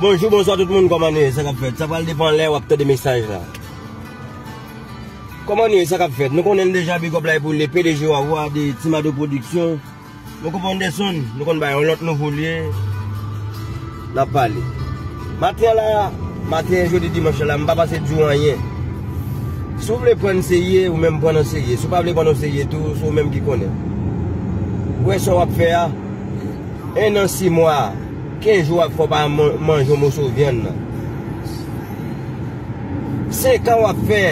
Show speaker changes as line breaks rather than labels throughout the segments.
Bonjou bonswa tout moun kòman nou ye sa kap fèt sa pral depan lè wap tande mesaj la kòman nou ye sa kap fèt nou konnenl deja bigòp la e pou le pdg wawou a de timado pwodiksyon nou konprann de son nou konn bay yon lòt nouvo lye. Nap pale. Maten an la, maten jodi dimanch la, m pa pase di w anyen. Si w vle pran n serye, ou menm pran n an serye. Si w pa vle pran n an serye tou, se w menm ki konnen. Ou wè sa w ap fè a, 1 an 6 mwa, 15 jou ap fè w pa manje yon moso vyann nan. 5 ans wap fè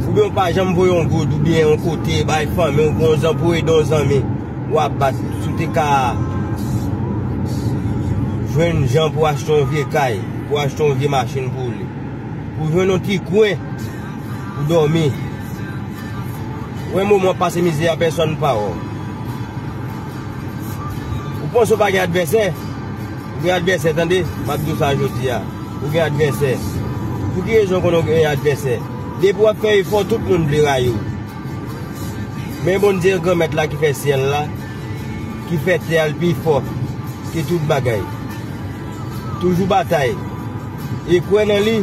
oubyen ou pa janm voye yon goud oubyen yon kote bay fanmi ou bon zanmi pou ede yon zanmi wap bat si w te ka jwenn jan pou achte yon vye kay pou achte yon vye machin pou li pou jwenn yon ti kwen pou domi wè moman wap pase mizè a pèsòn pa wè w ou panse ou pa gen advèsè ou gen advèsè tande map di w sa jodi a. Ou gen advèsè? Pou ki rezon ou konnen ou gen advèsè? Depi w ap fè efò, tout moun vle rayi w. Men Bondye Granmèt la ki fè syèl la, ki fè tè a l pi fò ke tout bagay. Toujou batay e kwè nan li,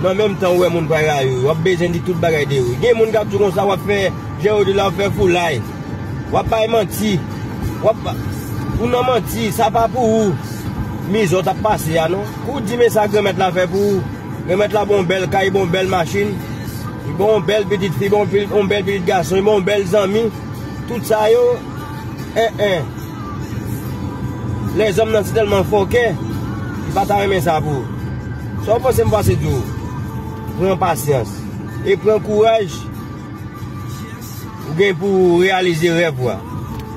men an menm tan ou wè moun pa rayi w, yo ap bezwen di tout bagay de ou. Gen moun k ap di w konsa w ap fè, jan yo di la w ap fè foulay. Wap bay manti. Wap Ou nan manti. Sa pa pou ou mizè w tap pase a non. Ou di men sa Granmèt la fè pou ou. Granmèt la ban w bèl kay, ban w bèl machin, li ban w bèl pitit fi, ban w bèl pitit gason, li ban w bèl zanmi. Tout sa yo en en. Lèzòm nan si tèlman fòkè, li pa ta renmen sa pou ou. Sa w panse m pase di w? Pran pasyans e pran kouraj. Ou gen pou ou reyalize rèv ou a.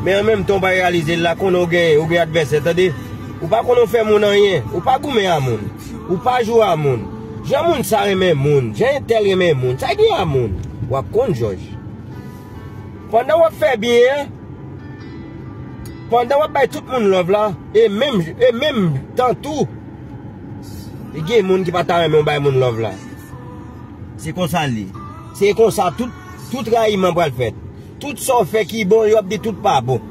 Men an menm tan ou pa reyalize l la, konnen ou gen ou gen advèsè tande. Ou pa konn ou fè moun anyen, ou pa goumen a moun, ou pa jwe a moun. Jan moun sa renmen moun, jan entèl renmen moun, sa gen a moun, w ap konn jòj. Pandan w ap fè byen an, pandan w ap bay tout moun love la, e menm e menm tan tou, gen moun ki pa ta renmen w bay moun love la. Se konsa l ye. Se konsa tout. Tout rayiman pral fèt. Tout sa w fè ki bon yo ap di tout pa bon.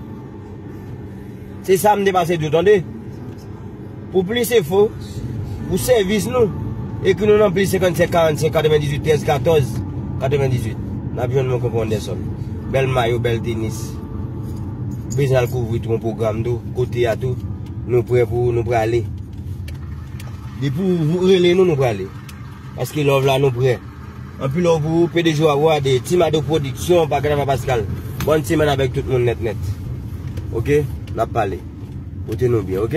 Se sa m te pase di w tande. Pou plis enfo, pou sèvis nou, ekri nou nan plis 55 45 98 13 14 98. N ap jwenn mwen Konpè Anderson. Bèl mayo, bèl tenis. Ou bezwen al kouvri tou yon pwogram tou, kote a tou, nou prè pou ou, nou prale. Depi ou rele nou, nou prale. Paske love la nou prè. Anpil love pou ou pdg wap wa de ti mado production pa grava pascal bòn semèn avèk tout moun nèt nèt ok nap pale pote nou byen ok.